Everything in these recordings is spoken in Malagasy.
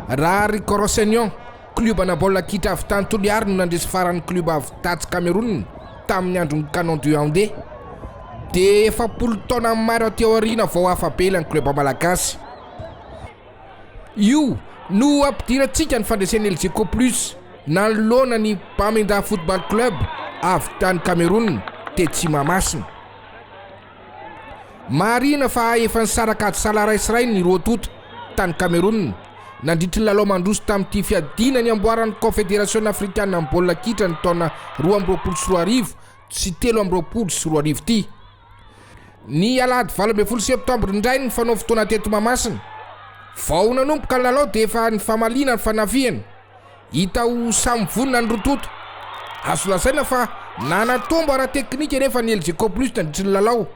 Raha ry Corosenion, kliobanà baolina kitra avy tany Toliary no nandresy farany klioba avy tatsy Kamerona tamin'ny andron'ny Canon de Yaoundé, dia efapolo taona maro aty aoriana vao afa-be ilay klioba malagasy. Io no ampidirantsika ny fandresen'ny Elgeco Plus nanoloana ny Bamenda Football Club avy tany Kamerona, tetsy Mahamasina. Marihina fa efa nisaraka ady sahala ray sy rainy ny roa tonta, tany Kamerona, nandritry ny lalao mandroso tamin'ity fiadiana ny amboaran'ny Kaonfederasiona afrikanina amin'ny baolina kitra ny taona roa amby roapolo sy roa arivo sy telo amby roapolo sy roa arivo ity. Ny alahady valo ambin'ny folo septambra indray ny fanao fotoana teto Mahamasina. Vao nanomboka ny lalao dia efa nifamaliana ny fanafihana. Hita ho samy vonona ny roa tonta. Azo lazaina fa nanatombo ara-teknika anefa ny Elgeco Plus nandritra ny lalao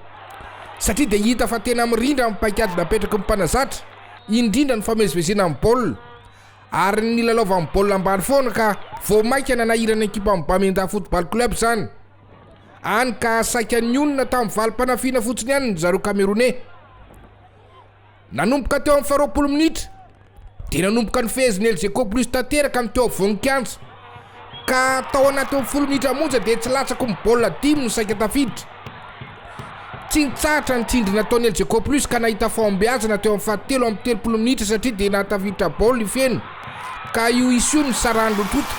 satria dia hita fa tena mirindra amin'ny paikady napetraky ny mpanazatra, indrindra ny famezivezena amin'ny baolina ary ny nilalaovany baolina ambany foana ka vao mainka nanahiran'ny ekipan'i Bamenda Football Club izany, hany ka saika nionona tamin'ny valim-panafiana fotsiny ihany ny zareo Kameroney. Nanomboka teo amin'ny faharoapolo minitra dia nanomboka nifehezin'ny Elgeco Plus tanteraka ny teo afovoan'ny kianja ka tao anatin'ny folo minitra monja dia tsy latsako ny baolina dimy no saika tafiditra. Tsy nitsahatra ny tsindry nataon'ny Elgeco Plus ka nahita fahombiazana teo amin'ny fahatelo amby telopolo minitra satria dia nahatafiditra baolina ifeno ka io isa io no nisarahan'ny roa tonta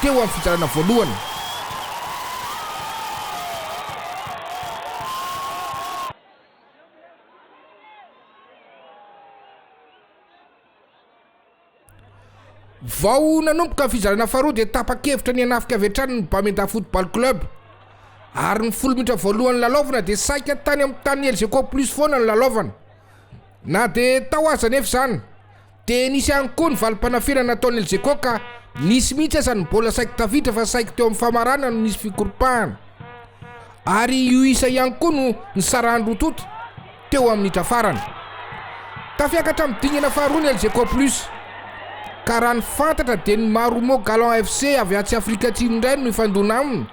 teo amin'ny fizarana voalohany. Vao nanomboka ny fizarana faharoa dia tapa-kevitra ny hanafika avy hatrany ny Bamenda Football Club ary ny folo minitra voalohan'ny lalaovana dia saika tany amin'ny tanin'ny Elgeco Plus foana ny lalaovana. Na dia tao aza anefa izany Dia nisy ihany koa ny valim-panafihana nataon'i Elgeco ka nisy mihitsy aza ny mbola saiky tafiditra fa saiky teo amin'ny famarana no nisy fikoropahana. Ary io isa ihany koa no nisarahan'ny roa tonta teo amin'ny minitra farany. Tafiakatra amin'ny dingana faharoa ny Elgeco Plus ka raha ny fantatra dia ny Marumo Gallants FC avy atsy Afrika Atsimo indray no hifandona aminy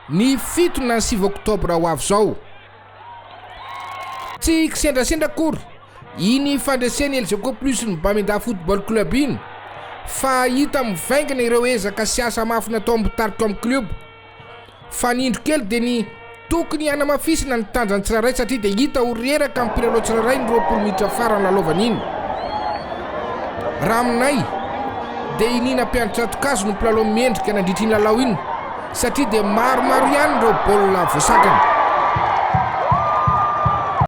ny fito na sivy oktobra ho avy izao. Tsy kisendrasendra akory iny fandresen'i El Joco Plus ny Bamindà Football Club iny fa hita mivaingana ireo ezaka sy asa mafy nataon'b Tarcom Club. Fanindro kely dia ny tokony hanamafisana ny tanjan'ny tsirairay satria dia hita ho reraka amin'ny mpilalao tsirairay ny roapolo minitra farany lalaovana iny. Raha aminay dia i Nina Mpiandry Tsato-kazo no mpilalao mendrika nandritra iny lalao iny. satria dia maromaro ihany ireo baolina voasatrany.